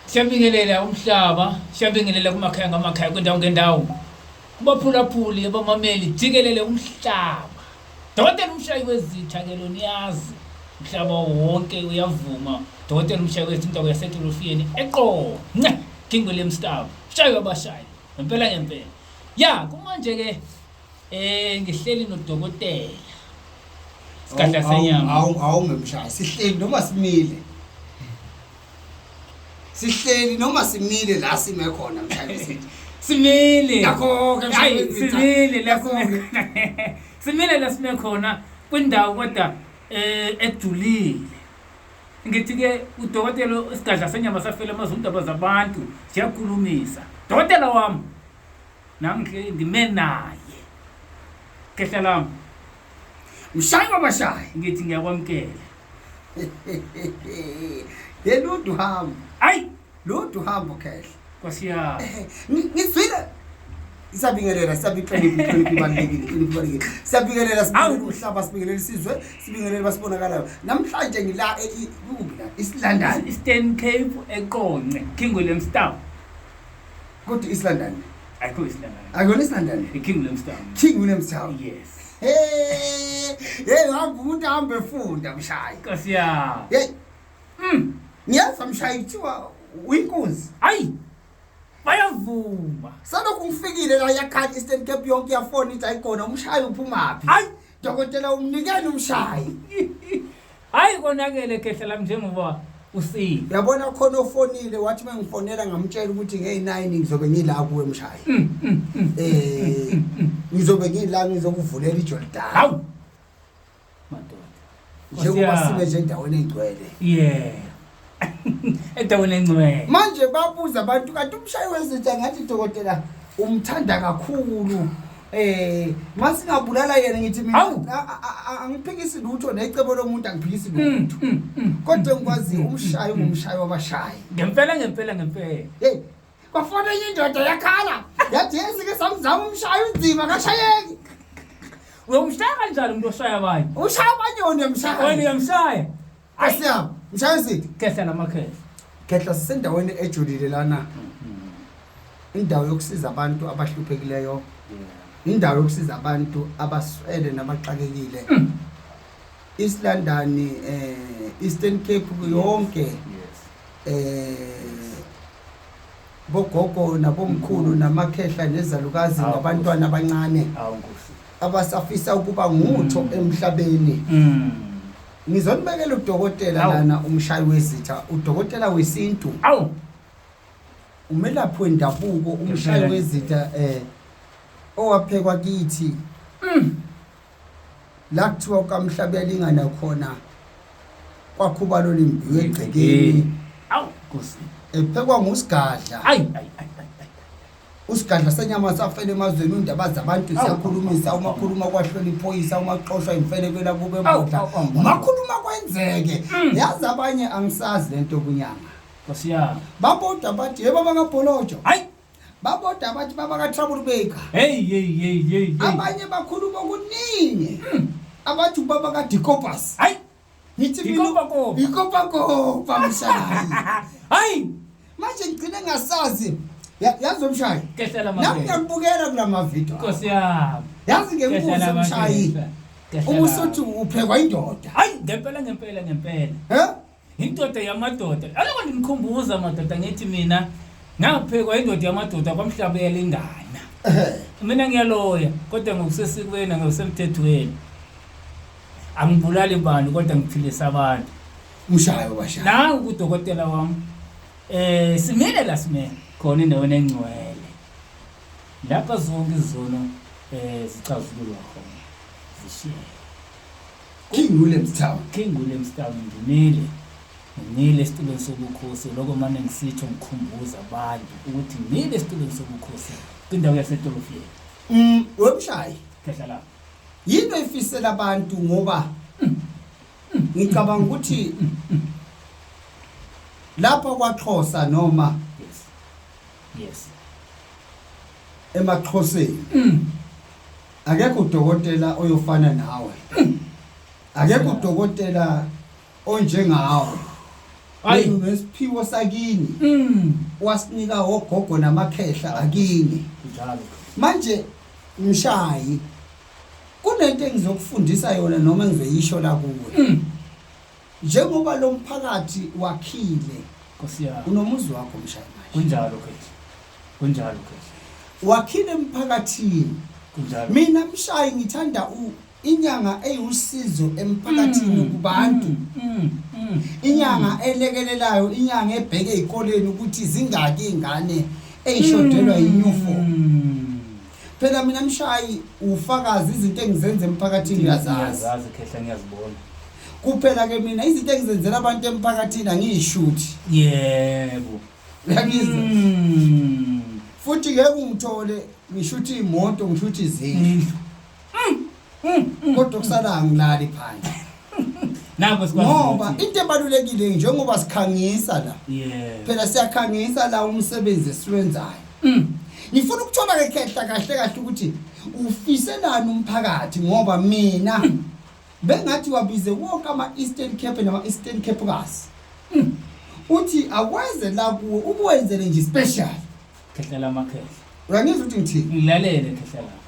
Siyabingelela umhlaba, siyabingelela kumakhaya ngamakhaya kwindawo ngendawo. Kubaphulaphuli abamameli jikelele umhlaba. Dokotela umshayi wezitha ke lo niyazi. Umhlaba wonke uyavuma. Dokotela umshayi wezitha indawo yaseTolofiyeni eqo. Nce, King William Stab. Shayi wabashayi. Ngempela ngempela. Ya, kumanje ke Eh ngihleli nodokotela. Sigadla senyama. Awu awu ngemshaya sihleli noma simile. Sihleli noma simile la sime khona mshayisi. Simile. Yakho ke Hayi mshayisi. simile la sime. Simile la sime khona kwindawo kodwa eh ejulile. Ngithi ke udokotela isigadla senyama safela amazwi indaba zabantu siyakhulumisa. Dokotela wami Nam ngihleli ndime naye. Khehla lam. Mshayi wabashayi ngithi ngiyakwamkela. Yena udu hamba. Ayi Ludu hamba khehla. Nkosi yami. Ngizwile Siyabingelela, siyabihlonipha, ihlonipha ibalulekile, ihlonipha ibalulekile. Siyabingelela sibingelela umhlaba, sibingelela isizwe, sibingelela basibonakalayo. Namhlanje ngila ekubina isilandani. Eastern Cape eqonce, Kingwelem Star. Kodwa East London. Ayikho East London. Akuyona East London. IKing Williamstown. King Williamstown. Yes. Hey, hey hamba umuntu ahambe efunda mshayi. Nkosi ya. Hey. Mm. Ngiyazi mshayi kuthiwa uyinkunzi. Hayi. Bayavuma. Salokhu ngifikile la yakhathi Eastern Cape yonke yafona ithi ayikona umshayi uphumaphi. Hayi. Dokotela umnikeni umshayi. Hayi konakele khehla lami njengoba usile. Yabona khona ofonile wathi mengifonela ngamtshela ukuthi ngey9 ngizobe ngila kuwe mshayi. Mm, mm, mm. Eh ngizobe ngila ngizokuvulela iJordan. Hawu. Madoda. Njengoba Nkosi yami. sibe nje endaweni engcwele. Yeah. edaweni encwele manje babuza abantu kanti umshayi wezinja ngathi dokotela umthanda kakhulu eh masingabulala yena ngithi mina Awu. a- a- a- a- angiphikisi lutho necebo lomuntu angiphikisi lutho Mm, mm, mm. kodwa engikwaziyo umshayi ungumshayi wabashayi ngempela ngempela ngempela hey bafona enye indoda yakhala yathi yezike samzama umshayi unzima kashayeki uyomshaya kanjani umuntu oshaya abanye ushaya abanye wena uyamshaya wena uyamshaya Asiyam, mshayisidi. Khehla namakhehla. Khehla sisendaweni ejulile lana. Mm-hmm. Indawo yokusiza abantu abahluphekileyo. Indawo yokusiza abantu abaswele nabaxakekile. Mm. East London, eh Eastern Cape yonke. Yes. Eh bogogo nabomkhulu namakhehla nezalukazi nabantwana abancane. Awunkosi. Abasafisa ukuba ngutho mm. emhlabeni. Mm. Ngizonibekela udokotela Awu. lana umshayi wezitha, udokotela wesintu, Awu. umelaphi wendabuko, umshayi Ngempela. wezitha eh owaphekwa kithi. Mm. La kuthiwa kamhlabelingana khona kwakhubalo limbi wegcekeni Awu. Nkosi. ephekwa ngusigadla. Ayi ayi ayi. usigadla senyama safela emazweni undaba zabantu ziyakhulumisa uma khuluma kwahlwela iphoyisa uma xoshwa imfelekwela kube mbodla Awu, awu, awu. uma khuluma kwenzeke yazi abanye angisazi le nto kunyanga Nkosi yami. baboda bathi yebo bakabholojo Hayi. baboda bathi babaka-trouble baker Hey hey hey hey. hey. abanye bakhuluma okuningi abathi ubaba kadicopus Hayi. Ngithi mina Yikopakopa. yikopakopa mshaya. Hayi, Manje ngigcine ngasazi. Ya- Yazi umshayi. kehlela Nami mabele. ngiyakubukela kula mavideo. Nkosi yami. Yazi Kehlela ngekubuze umshayi. mabele. Kehlela. Uma usuthi uphekwa indoda. Hayi, ngempela ngempela ngempela. Eh? Indoda yamadoda. Aloko ndimkhumbuza madoda ngithi mina ngaphekwa indoda yamadoda kwamhlabela ingana. Eh. Mina ngiyaloya kodwa ngokusesikweni ngokusemthethweni. angibulali bani kodwa ngiphilisa abantu umshayo washaya nawe kudokotela wam um eh, simile la simele khona endaweni engcwele lapha zonke izono um eh, zicazululwa khona zishiye king williams town king williams town ngimile ngimile esitulweni sobukhosi loko mane ngisitsho ngikhumbuza abantu ukuthi ngimile esitulweni sobukhosi kwindawo yasedolofiyeni um webushayi khehla lapho Yinto efisela abantu ngoba ngicabanga ukuthi lapha kwaXhosa noma yes yes emaXhoseni mm. akekho udokotela oyofana nawe mm. akekho udokotela onjengawe hayi nesiphiwo sakini mm. wasinika ogogo namakhehla akini njalo manje Mshayi. Kunento engizokufundisa yona noma engizoyisho la kuwe. Mm. Njengoba lo mphakathi wakhile. Nkosi yami. Unomuzi wakho mshayi manje. Kunjalo khethi. Kunjalo khethi. Wakhile emphakathini. Kunjalo. Mina mshayi ngithanda u Inyanga eyiwusizo emphakathini mm, kubantu. Mm, mm, inyanga elekelelayo, inyanga ebheke ezikoleni ukuthi zingaki izingane eyishodelwa yinyufom. Phela mina mshayi ufakazi izinto engizenza emphakathini uyazazi. Ngiyazazi khehla ngiyazibona. Kuphela ke mina izinto engizenzela abantu emphakathini angiyishuthi. Yebo. Uyangizwa? Futhi ngeke ungithole ngishuthi imoto ngishuthi izindlu. kodwa kusala angilali phansi Nako sikwazi ngoba ukuthi- into ebalulekile njengoba sikhangisa la Yeah. phela siyakhangisa la umsebenzi esiwenzayo Mm. ngifuna ukuthola ke khehla kahle kahle ukuthi ufiselani umphakathi ngoba mina bengathi wabize wonke ama-eastern cape nama-eastern cape kasi uthi akwenze la kuwe ukuwenzele nje special khehla lamakhehla uyangizwa ukuthi ngithini ngilalele khehla lami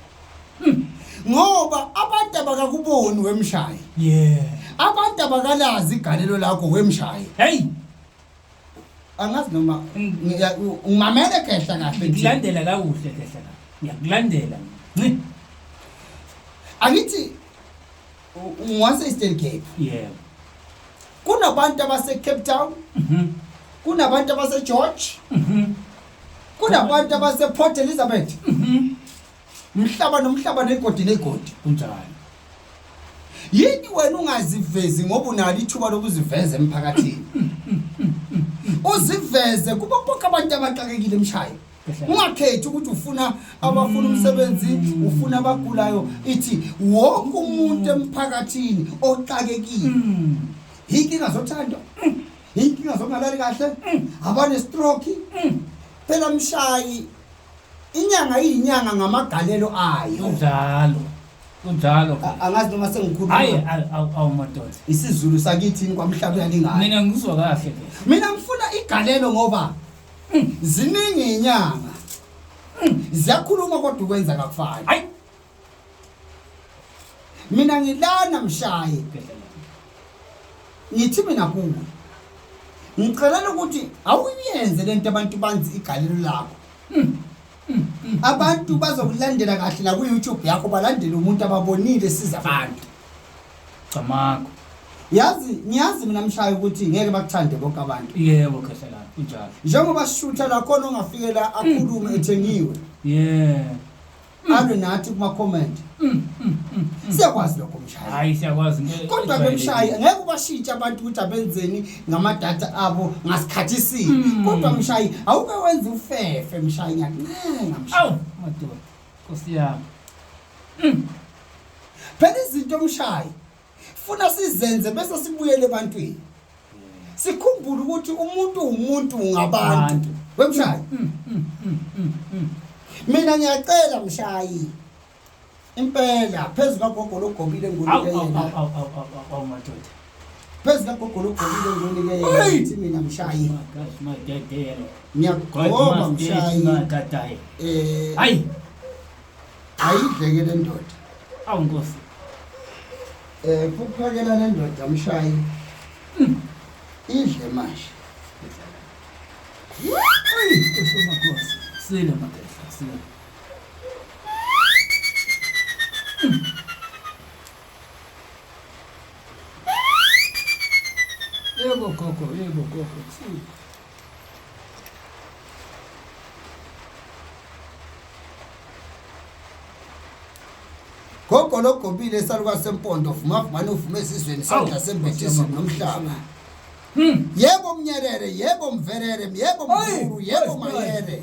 hmm. ngoba abantu abakakuboni wemshayi yeah abantu abakalazi igalelo lakho wemshayi hey angazi noma ngimamele khehla kahle ngilandela la kuhle khehla la ngiyakulandela nci angithi Ungwase Eastern Cape. Yeah. Kunabantu abase Cape Town. Mhm. Kunabantu abase George. Mhm. Kunabantu abase Port Elizabeth. Mhm. Mhlaba nomhlaba negodi negodi. Kunjani? Yini wena ungazivezi ngoba unalo ithuba lokuziveza emphakathini? Uziveze kuba bonke abantu abaxakekile emshayo. ungakhethi ukuthi ufuna abafuna umsebenzi ufuna abagulayo ithi wonke umuntu emphakathini oxakekile mm. inkinga zothandwa mm. inkinga zokungalali kahle mm. abanestroke phela mshayi inyanga iyinyanga ngamagalelo ayo njalo kunjalo angazi noma sengikhuluma hayi awu madoda isizulu sakithi kwamhlabuyalingana mina ngizwa kahle mina ngifuna igalelo ngoba Mm, ziningi inyanga. Mm, ziyakhuluma kodwa ukwenza kakufani. Hayi. Mina ngilana mshaye. Ngithi mina kuwe. Ngicela ukuthi awuyenze lento abantu banzi igalelo lakho. Mm. abantu bazokulandela kahle la ku-youtube yakho balandele umuntu ababonile siza abantu camakho yazi ngiyazi mina mshayo ukuthi ngeke bakuthande bonke abantu yebo khehlelana kunjalo njengoba sishutha lakhona ongafikela akhulume ethengiwe yeah alwe nathi kuma-comment mm, mm, mm, siyakwazi lokho mshayi hayi siyakwazi kodwa-ke mshayi ngeke ubashintshe abantu ukuthi abenzeni ngamadata abo ngasikhathi sini Hmm. kodwa mshayi awuke wenza ufefe mshayi ngiyakuncenga mshayi awu madoda nkosi yami phela izinto mshayi funa sizenze bese sibuyele ebantwini sikhumbule ukuthi umuntu umuntu ngabantu Abantu. wemshayi mina ngiyacela mshayi Impela phezu kagogo logobile ngunike yena. Awu madoda. Phezu kagogo logobile ngunike yena. Ithi mina mshayi. Ngiyagoma mshayi. Eh. Hayi. Ayidleke le ndoda. Awu Nkosi. Eh kuphakela le ndoda mshayi. Hmm. Idle manje. Sile madoda. Sile. Yebo gogo, yebo gogo. Gogo logobile esaluka sempondo vuma vumani uvume esizweni isandla sembethisi nomhlaba. Hmm. Yebo mnyerere, yebo mverere, yebo mkhulu, yebo mayere.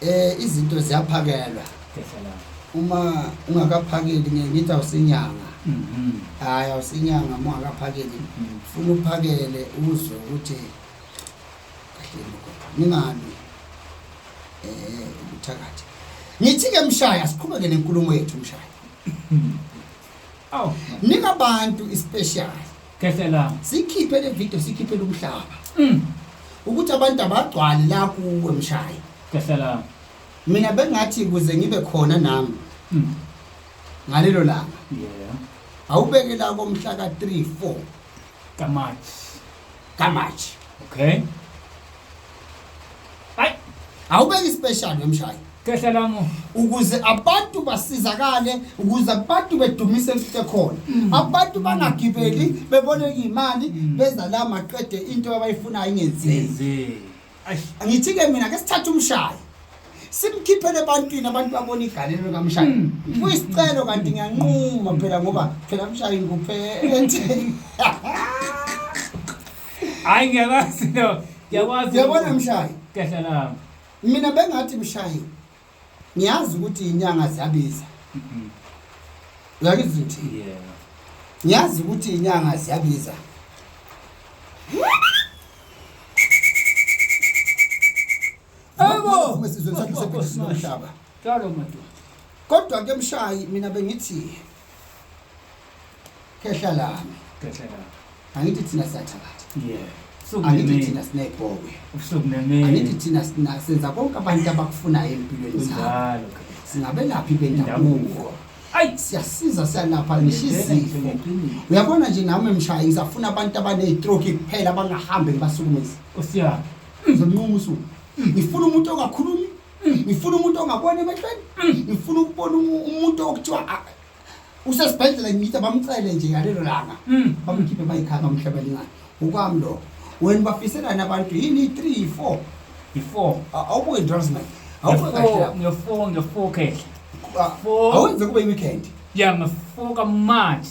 eh izinto ziyaphakelwa uma ungakaphakeli ngeke ngithi awusinyanga mhm. hayi awusinyanga uma ungakaphakeli mhm. funa uphakele uzwe ukuthi kahle ningabi eh ubuthakathi ngithi ke mshaya siqhubeke nenkulumo yethu mshaya mhm. Aw, Nika abantu ispecial. khehlela. Sikhiphe le video sikhiphe lomhlaba. Mm. Ukuthi abantu abagcwale la kuwe mshayi. Khehlela. Mina bengathi kuze ngibe khona nami Mm. ngalelo langa. Yeah. Awubeke la komhla ka 3 4. Kamathi. kaMarch okay ay awubeki special wemshayi Kehla lami ukuze abantu basizakale ukuze abantu bedumise kuhle khona mm. abantu bangagibeli bebone imali mm. beza la maqede into abayifunayo ingenzeki angithi ke mina ke sithatha umshayo simkhiphele ebantwini abantu babona igalelo likamshayo mm, mm, kuyisicelo mm. kanti ngiyanquma phela ngoba phela mshayi nguphethe hayi ngiyakwazi lo ngiyakwazi yabona mshayi kahle lami mina bengathi mshayi ngiyazi ukuthi inyanga ziyabiza uyakizwa ukuthi ngiyazi ukuthi inyanga ziyabiza kodwa ke mshayi mina bengithi khehla lami khehla lami angithi thina sathabatha yeah angithi thina sinebhokwe angithi thina senza konke abantu abakufunayo empilweni zabo singabelaphi bendabuko ayi siyasiza siyanapha nishizifo uyabona nje nami mshayi ngisafuna abantu abaneytroki kuphela abangahambe ngibasukumezi osiyaphi ngizomnquma usuku ngifuna umuntu ongakhulumi Mm, ngifuna umuntu ongabona emehlweni mm, ngifuna ukubona umuntu okuthiwa ah, usesibhedlela ngithi bamcele nje ngalelo langa mm. bamkhiphe bayikhanga bamhlabela ingane ukwami lokho wena bafiselani abantu yini i-three yi-four yi-four awubuke ndrums man ngefour ngefour khehle awenze kube i-weekend ya ngefour kamanje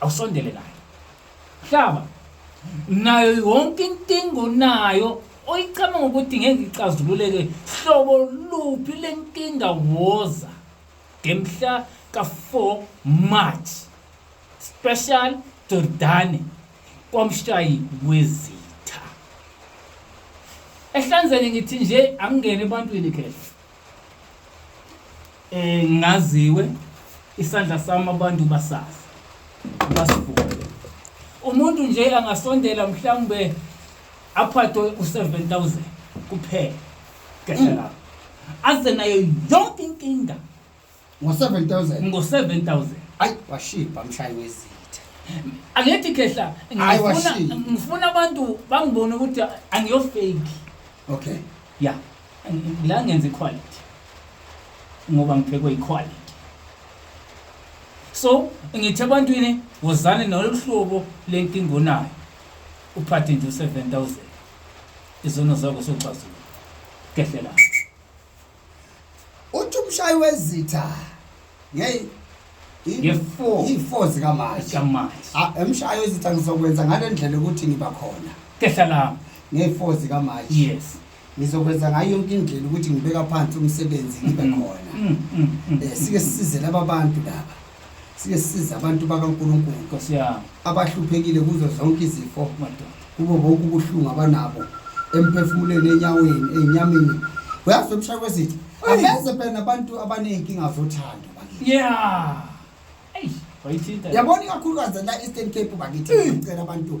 awusondele nayo hlaba nayo yonke inkinga onayo oyicabanga ukuthi ngeke icazululeke hlobo luphi lenkinga woza ngemhla ka-4 march special jordane kwamshayi wezitha ehlanzeni ngithi nje angingene ebantwini khehla eh ngaziwe isandla sami abantu basazi basivuke umuntu nje angasondela mhlawumbe aphathwe u7000 kuphela kahle lapho aze nayo yonke inkinga ngo-7000 ngo-7000 ayi washibha mshayi wezitha angithi khehla Hayi, ngifuna washilo. ngifuna abantu bangibone ukuthi angiyofake okay ya ngi- la ngenza iquality ngoba ngiphekwe iquality so ngithi ebantwini wozane nalolu hlobo lenkinga onayo uphathe nje u-7000 izono zakho soxazula kehlelana uthi umshayi wezitha ngeke nge-four nge-four zikamanje zikamanje Ah, emshayo ezitha ngizokwenza ngale ndlela ukuthi ngiba khona kehla lami nge-four zikamanje yes ngizokwenza ngayo yonke indlela ukuthi ngibeka phansi umsebenzi ngibe khona Mm, mm, mm. um sike sisize laba bantu laba sibe siza abantu bakaNkulunkulu Nkosi yami. abahluphekile kuzo zonke izifo Madoda. kubo bonke ubuhlungu abanabo emphefumulweni enyaweni enyameni uyazi umshaya kwesithi Hey. aveze phela nabantu abaney'nkinga zothando bakithi Yeah. Eish, wayithinta. yabona ikakhulukazi la eastern cape bakithi ngicela abantu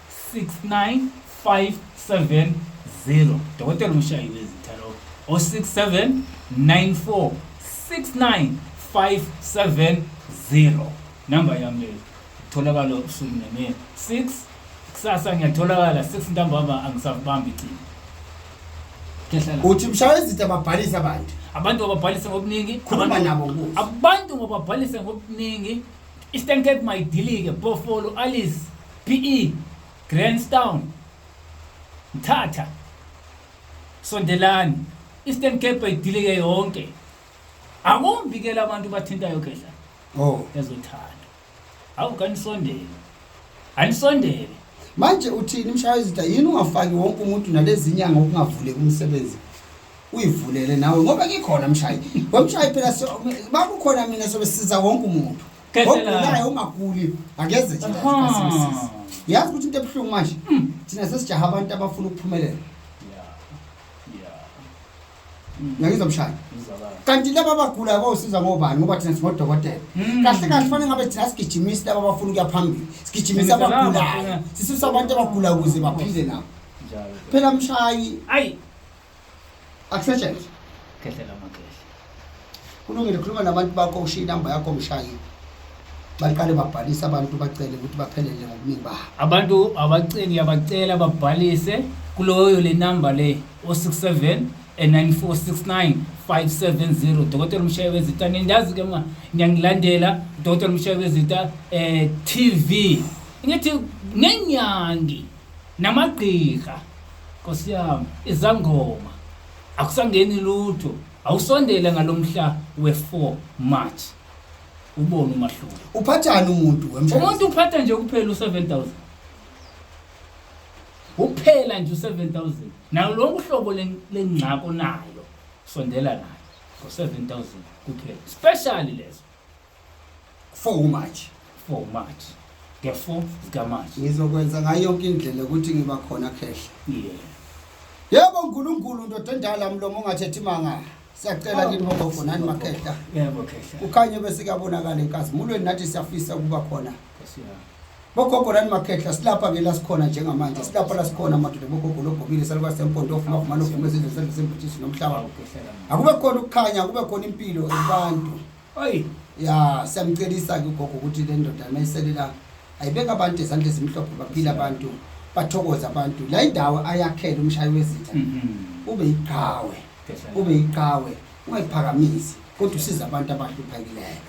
69570 dokotela umshayi wezitha lo o 67946950 namba yami leyo tholakala usuku nemini 6 kusasa ngiyatholakala 6 ntambama angisabambi icingo kehlala uthi mshayi wezitha babhalise abantu abantu bababhalise ngobuningi Khuluma abantu- nabo kuzo. abantu bababhalise ngobuningi eastern cape mayidilike bofolo alice PE, Grahamstown, Mthatha, Sondelani, Eastern Cape ayidilike yonke. Akumvikela abantu bathintayo khehla. Oh, ezothanda. Awu kanisondele. Anisondele. Manje uthini mshaya izitha yini ungafaki wonke umuntu nalezinya ngokungavuleki umsebenzi? Uyivulele nawe ngoba ngikhona mshayi. Wemshayi phela bakukhona mina sobe siza wonke umuntu. ogulayo ongaguli akeze thinasimsizi yazi ukuthi into ebuhlungu manje mm. thina sesijaha abantu abafuna ukuphumelela ngiyangizwa mshaya kanti laba abagulayo bawusiza ngobani ngoba thina singodokotela hmm. kahle kahle fanele ngabe thina sigijimisi laba abafuna ukuya phambili sigijimisi abagulayo sisusa abantu abagulayo ukuze baphile nabo phela mshayi ayi akusetshenzwe khehlela amakhehla kulungile khuluma nabantu bakho ushiye inamba yakho mshayi baqale babhalise abantu bacele ukuthi baphelele ngobuningi babo abantu abaceli yabacela babhalise kuloyo le namba le o67 9469 570 dokotela umshayi wezita nindazi ke mna ngiyangilandela dokotela umshayi wezita eh tv ngithi nenyangi namagqirha Nkosi yami, izangoma akusangeni lutho. Awusondele ngalomhla we4 March. Ubone umahluko. Uphathani umuntu wemshado? Umuntu uphatha nje kuphela u7000. Uphela nje u7000. Nawo lonke uhlobo lengcako nayo. Sondela nayo ngo7000 kuphela. Special leso. for umarch for march the 4 zikamarch ngizokwenza ngayo yonke indlela ukuthi ngiba khona khehla yeah yebo unkulunkulu ndoda endala mlomo ongathethi manga siyacela kini bogogo nani makhehla yebo khehla kukhanye bese kuyabonakala enkazimulweni nathi siyafisa ukuba khona bogogo nani makhehla silapha ke la sikhona njengamanje silapha la sikhona madoda bogogo logobile saluka sempondo ofuma kumane ofuma izizwe sendlu sembuthiso nomhlaba akube khona ukukhanya akube khona impilo abantu oyi ya siyamcelisa ke ugogo ukuthi le ndoda mayiselela ayibeka abantu ezandla ezimhlophe baphila abantu bathokoza abantu la indawo ayakhela umshayi wezitha mm-hmm. ube yiqhawe ube yiqhawe ungayiphakamisi kodwa usiza abantu abahluphakileyo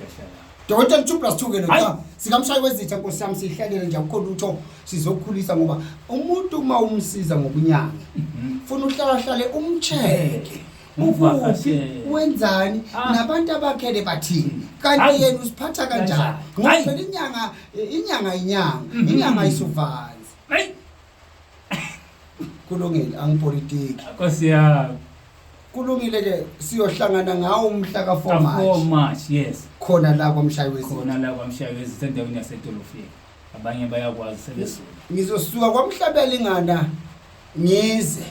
Dota 2 plus 2 ke lo cha sikamshayi wezitha nkosi yami sihlalele nje akukho lutho sizokhulisa ngoba umuntu uma umsiza ngokunyanga mhm. ufuna uhlala hlale umcheke ukuphi wenzani ah. nabantu abakhele bathini kanti yena usiphatha kanjani ngoba inyanga inyanga inyanga mhm. inyanga isuvana kulungile angipolitiki Nkosi yami. kulungile ke siyohlangana ngawo umhla ka-4 Ka-4 March March, yes. khona la kwamshayi wezinto Khona la kwamshayi wezinto endaweni yasedolofini. Abanye bayakwazi sebezulu. ngizosuka kwamhlabela ingana ngize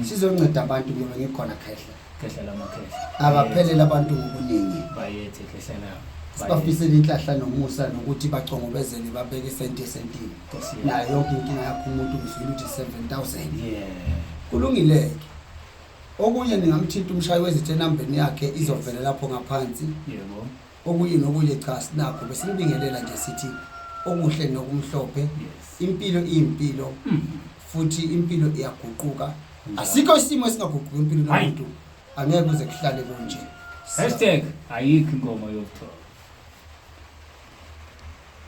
sizonceda abantu ngoba ngikhona khehla khehla lamakhehla abaphelele abantu ngobuningi bayethe khehla labo sibafisele inhlahla nomusa nokuthi bacongobezele babeke isenti esentini nayo yonke inkinga yakho umuntu uzwile ukuthi 7000 kulungile-ke okunye ningamthinta umshayi wezithe enambeni yakhe izovele lapho ngaphansi Okunye nokunye cha sinakho besinibingelela nje sithi okuhle nokumhlophe yes. impilo iyimpilo mm. futhi impilo iyaguquka mm. asikho isimo esingaguquki impilo nomuntu angeke kuze kuhlale kunje hashtag ayikho inkomo yokuthola